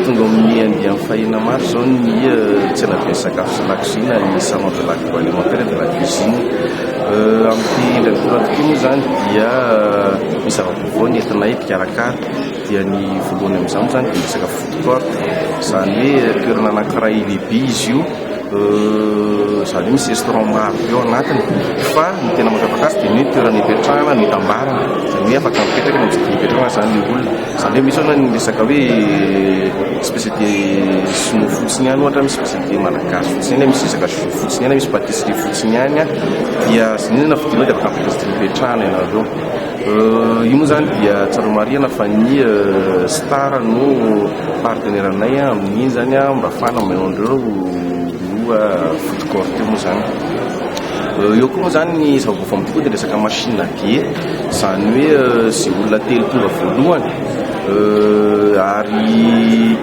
Tonga ao amin'ny andiany fahina maro izao ny eh, tsenabe sakafo sy lakozina ny salon de l'agroalimentaire et de la cuisine. Eh, amin'ity indray mitoraka ity moa izany dia eh, misy zava-baovao ny entinay mpikarakara dia ny voalohany amin'izany moa izany dia ny sakafo food court izany hoe toerana anankiray lehibe izy io Izany hoe misy restaurant maro be ao anatiny fa ny tena mampiavaka azy dia ny hoe toerana ipetrahana no itambarany. Izany hoe afaka mipetraka eny amin'ny fidiana ipetrahana izany ny olona. Izany hoe misy hono ny resaka hoe spécialité sinoa fotsiny any ohatra, misy spécialité malagasy fotsiny any, misy resaka jus fotsiny any, misy pâtisserie fotsiny any dia izany na fidianao dia afaka mipetraka amin'ny fidiana ipetrahana ianareo. Io moa izany dia tsaroa marihana fa ny Star no Partenaire anay amin'iny izany mba afahana manao an'ireo loha food court io moa izany. Eo koa moa izany ny zava-baovao amin'ny fokoa dia resaka machine à billets, izany hoe izay olona telo tonga voalohany ary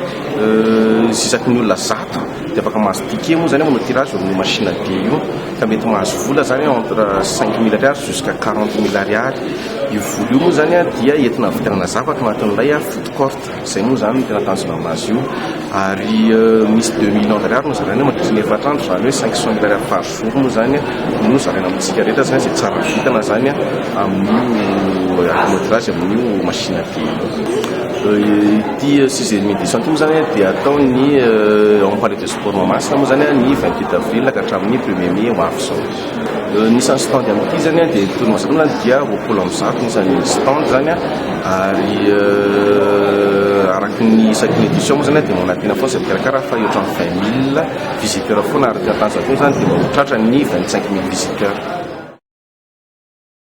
isaky ny olona zato dia afaka mahazo ticket moa izany manao tirage ao amin'io machine à billets io ka mety mahazo vola izany entre cinq mille ariary jusqu'à quarante mille ariary. Io vola io moa izany dia entina havidianana zavatra ao anatin'ilay food court. Izay moa izany no tena tanjona amin'azy io ary misy deux millions d'ariary no zaraina mandritra ny efatra andro, izany hoe cinq cent mille ariary par jour moa izany no zaraina amintsika rehetra izany izay tsara vintana izany amin'io kilometrage amin'io machine à dier io. Ity six et demi de centimes izany dia atao ny en palais de sport Mahamasina moa izany ny vingt huit avril ka hatramin'ny premier mai ho avy izao. Ny isan'ny stand amin'ity zany dia ny tony masinina dia roapolo amby zato ny isan'ny stand zany ary araky ny isaky ny édition moa zany dia manantena foana izay mpikarakara fa eo hatramin'ny vingt mille visiteurs foana ary ny tanjaka koa zany dia ho tratran'ny vingt cinq mille visiteurs.